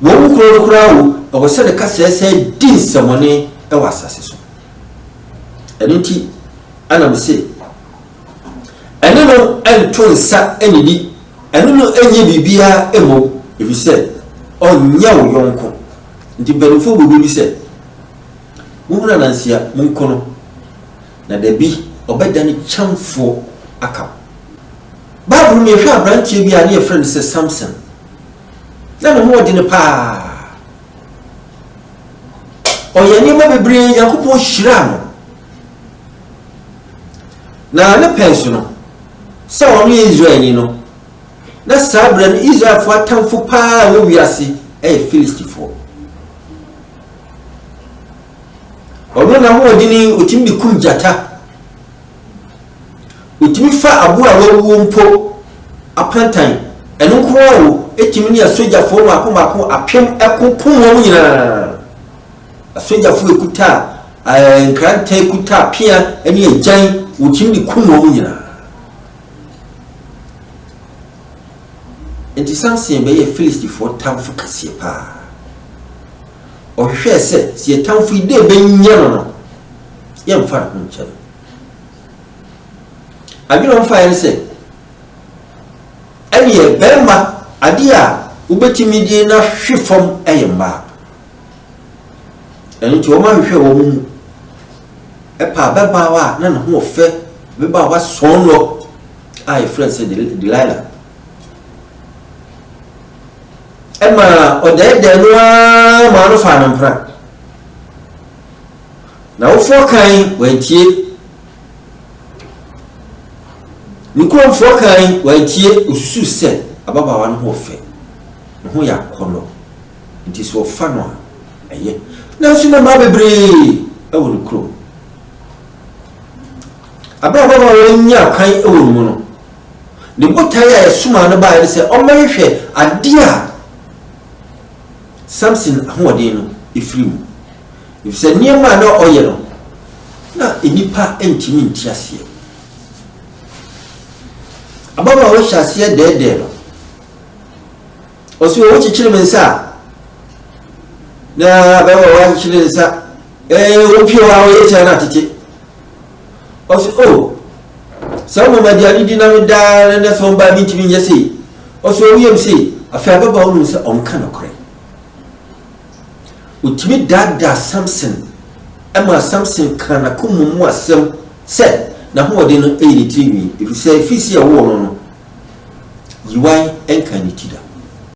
Wɔn mu koro no koraa o, ɛwɔ sɛ ne kasaɛ san di nsɛmɔne wɔ asase so. Ɛno nti na mese, ɛne no nto nsa nnidi, ɛne no nyɛ biribiara mmom, ɛfiri sɛ ɔnyɛ wo yɔnko. Nti mpanimfoɔ bɔ dua bi sɛ, Mohunu ananse a, monku no, na da bi ɔbɛdane kyɛmfoɔ aka mo. Bible mu no, yɛhwɛ aberanteɛ bi a na yɛfrɛ no sɛ Samson. Na ne ho ɔdene paa. Ɔyɛ nneɛma bebree Nyankopɔn hyiraa no. Na ne pɛn so no, sɛ ɔno yɛ Israelni no, na saa berɛ no Israelfoɔ atamfo paa a ɛwɔ wiase yɛ Filistifoɔ. Ɔno na ho ɔdene ɔtumi de kum gyata. Otumi fa aboa a wawuo mpo apantan. Ɛno nko ara o, etumi ne asogyafoɔ mmaako mmaako apem ko kum wɔn nyinaa. Asogyafoɔ ekuta ɛɛ eh, nkrantɛ, ekuta pea ne agyan, wɔtumi de kum wɔn nyinaa. Nti Samson bɛyɛ Filistifoɔ tamfo kɛseɛ paa. Ɔhwehwɛɛ sɛ, sɛ yɛn tamfo yi, dɛn yɛbɛnya no no, yɛmfa ne ho nkyɛ no. Adwene a ɔfaeɛ ne sɛ, ɛneɛ bɛrima adeɛ a wobɛtumi de no ahwe fam yɛ mmaa. Ɛno nti wɔahwehwɛ wɔn mu ɛpaa bɛbaawa a na ne ho ɔfɛ bɛbaawa sɔn lɔ a yɛfrɛ no sɛ Delilah. ɛmaa ɔdɛɛdɛɛ no ara maa no faa no mpena. N'awofoɔ kan wantie, ne kuromfoɔ kan wantie, osusu sɛ ababaawa no ho ɔfɛ, ne ho yɛ akɔnnɔ, nti sɛ ɔfa no a ɛyɛ. Nanso na mmaa bebree wɔ ne kurom. Ababaawa a wɔanya kwan wɔ ne mu no, Ne botae a ɛsomaa no bae ne sɛ ɔmmɛhwehwɛ ade a Samson ahoɔden no firi mu, efisɛ nneɛma a na ɔyɛ no, na nnipa ntumi nte aseɛ. Ababaawa hyɛ aseɛ dɛɛdɛɛ no. Ɔsi wɔ wokyekyere me nsa a, na ababaawa akyekyere ne nsa, ɛɛ, wopie hɔ a woyɛ tia no atete. Ɔse oh saa mmom agya no di na me daa na nɛ sɛ ɔmbaa mentumi nyɛ sei. Ɔse ɔwo yam sei afei ababaawa no hu sɛ ɔnka nokorɛ. Ɔtumi daadaa Samson ɛmaa Samson kaa n'akoma mu asɛm sɛ n'ahoɔden no ɛyɛ ne tiri nwi ɛfiri sɛ ɛfiri sɛ yɛwoo no no yiwae ɛnkaa ne ti da.